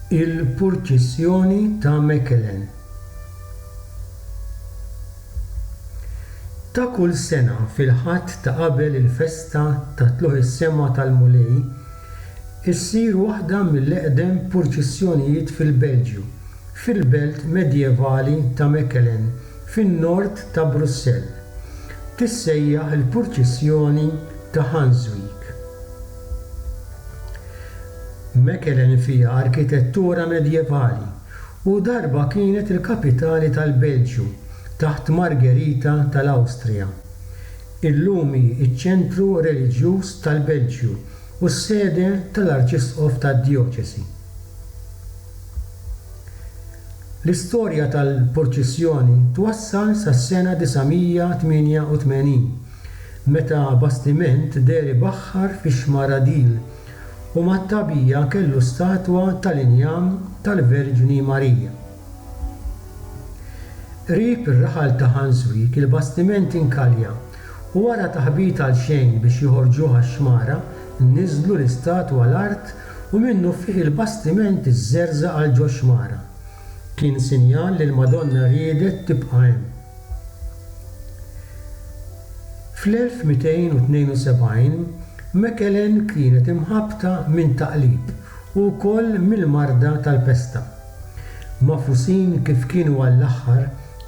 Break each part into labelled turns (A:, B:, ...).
A: Il-Purċissjoni ta' Mechelen Ta' kull sena fil-Ħadd ta' qabel il-festa ta' Tlugħ is-Sema tal-Mulej, issir waħda mill-eqdem purċissjonijiet fil-Belġju, fil-belt medjevali ta' Mechelen. fin-Nord ta' Brussell, tissejjaħ il-Purċissjoni ta' Hanswijk. Mechelen fiha arkitettura medjevali u darba kienet il-kapitali tal-Belġju taħt Margherita tal-Awstrija. Illum hi ċ-ċentru reliġjuż tal-Belġju u s-sede tal-Arċisqof tad-djoċesi. L-istorja tal-purċissjoni twassal sas-sena 988, meta bastiment deher ibaħħar fix-xmara Dil u mat-tagħbija kellu statwa tal-injam tal-Verġni Marija. Qrib ir-raħal ta' Ħanswijk il-bastiment inkalja u wara taħbit għalxejn biex joħorġuh għax-xmara niżlu l-istatwa l-art u minnufih il-bastiment iżżerżaq għal ġo xmara. Kien sinjal li l-Madonna riedet tibqa' hemm. Fl-1272, Mechelen kienet imħabbta minn taqlib u wkoll mill-marda tal-pesta. Magħfusin kif kienu għall-aħħar,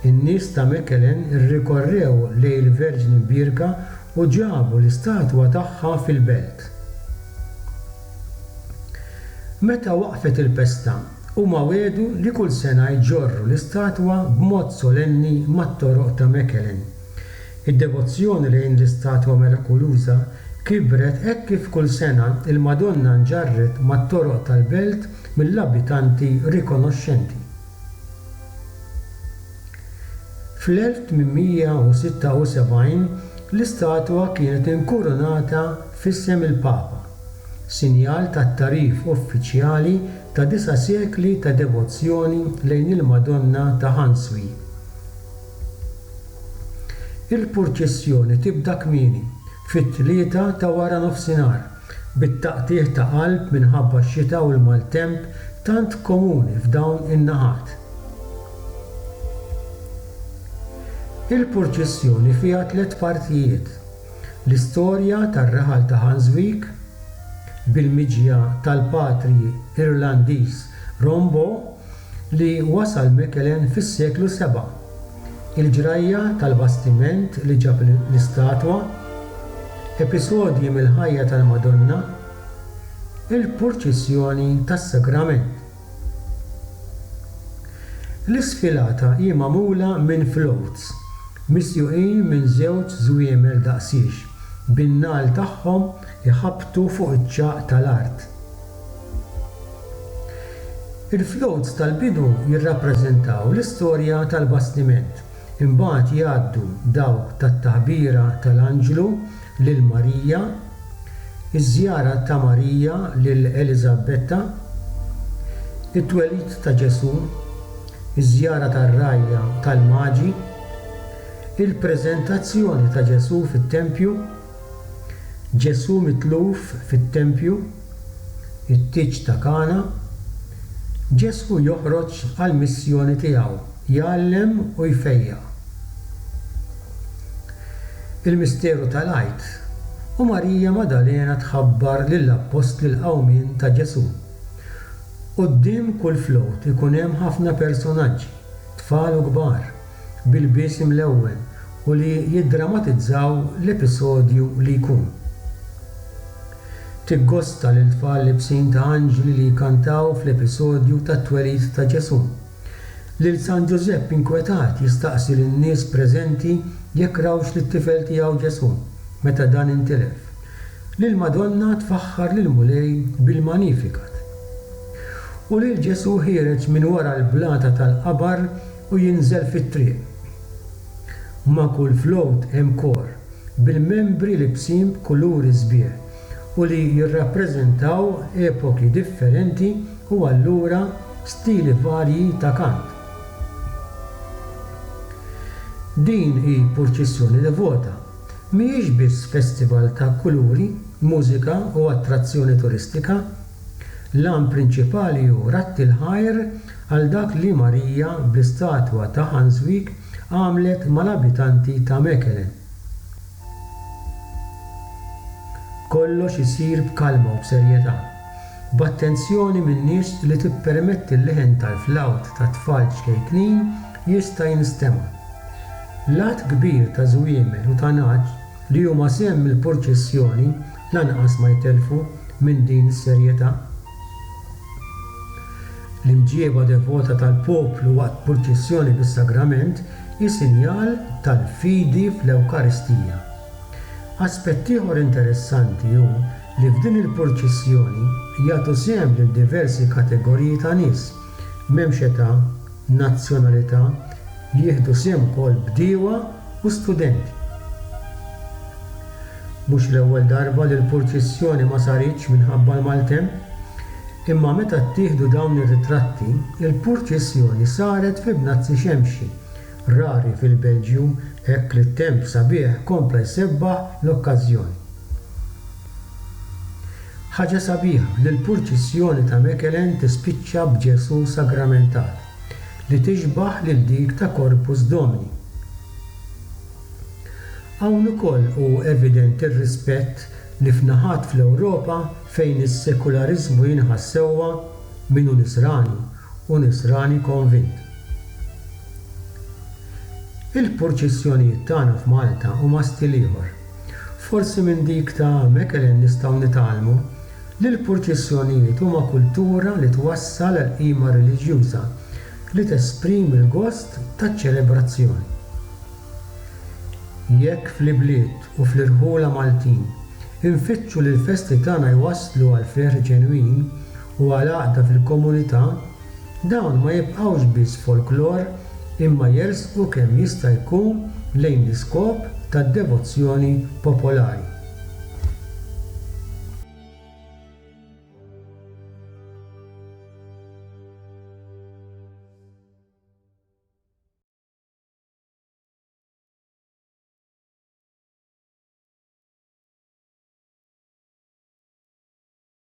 A: in-nies ta' Mechelen irrikorrew lejn il-Verġni Mbierka u ġabu l-istatwa tagħha fil-belt. Meta waqfet il-festa, huma wegħdu li kull sena jġorru l-istatwa b'mod solenni mat-toroq ta' Mechelen. Id-devozzjoni lejn l-istatwa mirakuluża kibret hekk kif kull sena l-Madonna nġarret mat-toroq tal-belt mill-abitanti rikonoxxenti. Fl-1876 l-istatwa kienet inkurunata f'isem il-Papa, sinjal tat-tagħrif uffiċjali ta' disa' sekli ta' devozzjoni lejn il-Madonna ta' Ħanswi. Il-purċissjoni tibda kmieni, fit-tlieta ta' waranofsinhar, bit-taqtigħ ta' qalb minħabba x-xita u l-maltemp tant komuni f'dawn in-naħat. Il-purċissjoni fiha tliet partijiet, l-istorja tar-raħal ta' Hanswyck, bil-miġja tal-patri Irlandiż Rombaugh li wasal Mechelen fis-seklu seba', il-ġrajja tal-bastiment li ġab l-istatwa, episodji mill-ħajja tal-Madonna, il-purċissjoni tas-Sagrament. L-isfilata hi magħmula minn floats misjuqin minn żewġ żwiemel daqsiex bin-nagħal tagħhom iħabbtu fuq iċ-ċagħaq tal-art. Il-floats tal-bidu jirrappreżentaw l-istorja tal-bastiment Imbagħad jgħaddu dawk tat-Taħbira tal-Anġlu lil Marija, iż-żjara ta' Marija lil Eliżabetta, it-twelid ta' Ġesù, iż-żjara tar-rgħajja tal-Maġi, il-preżentazzjoni ta' Ġesù fit-tempju, Ġesù mitluf fit-tempju, it-tieġ ta' Kana, Ġesù joħroġ għall-missjoni tiegħu, jgħallem u jfejjaq. Il-misteru tal-Għid, u Marija Maddalena tħabbar lill-appostli l-qawmien ta' Ġesù. Quddiem kull float ikun hemm ħafna personaġġi, tfal u kbar, bil-biesem l-ewwel u li jiddramatizzaw l-episodju li jkun. Tiggosta lil tfal libsin ta' anġli li jkantaw fl-episodju tat-twelid ta' Ġesù. Lil San Ġużepp inkwetat jistaqsi lin-nies preżenti jekk rawx lit-tifel tiegħu Ġesù meta dan intilef. Lill-Madonna tfaħħar lill-Mulej bil-Magnificat. U lil Ġesù ħiereġ minn wara l-blata tal-qabar u jinżel fit-triq. Ma' kull float hemm kor bil-membri libsin b'kuluri sbieħ u li jirrappreżentaw epoki differenti u allura stili varji ta' kant. Din hi purċissjoni devota. Mhijiex biss festival ta' kuluri, mużika u attrazzjoni turistika. L-għan prinċipali hu ratti l-ħajr għal dak li Marija bl-istatwa ta' Hanswijk għamlet mal-abitanti ta' Mechelen. Kollox isir b'kalma u b'serjetà, b'attenzjoni min-nies li tippermetti l-leħen tal-flawt tat-tfal ċkejknin jista' jinstema'. L-għadd kbir ta' żwiemel u ta' nagħaġ li huma sehem mill-purċissjoni lanqas ma jtellfu minn din is-serjetà. L-imġieba devota tal-poplu waqt purċissjoni bis-sagrament hi sinjal tal-fidi fl-Ewkaristija. Aspett ieħor interessanti hu li f'din il-purċissjoni jagħtu sehem lil diversi kategoriji ta' nies, M'hemmx età, nazzjonalità, li jieħdu sehem ukoll bdiewa u studenti. Mhux l-ewwel darba li l-purċissjoni ma saritx minħabba l-maltemp, imma meta ttieħdu dawn ir-ritratti, il-purċissjoni saret fi bnazzi xemxi, rari fil-Belġju hekk li t-temp sabiħ kompla jsebbaħ l-okkażjoni. Ħaġa sabiħa li l-purċissjoni ta' Mechelen tispiċċa b'Ġesù sagramentat, li tixbah lil dik ta' Corpus Domini. Hawn ukoll hu evidenti r-rispett li f'naħat fl-Ewropa fejn is-sekulariżmu jinħass sewwa min hu Nisrani u Nisrani konvint. Il-purċissjonijiet tagħna f'Malta huma stil ieħor. Forsi minn dik ta' Mechelen nistgħu nitgħallmu li l-purċissjonijiet huma kultura li twassal għal qima reliġjuża li tesprimi l-gost taċ-ċelebrazzjon. Jekk fl-ibliet u fl-irħula Maltin infittxu li l-festi tagħna jwasslu għal ferħ ġenwin u għal għaqda fil-komunità, Dawn ma jibqgħux biss folklor imma jersqu kemm jista' jkun lejn l-iskop tad-devozzjoni popolari.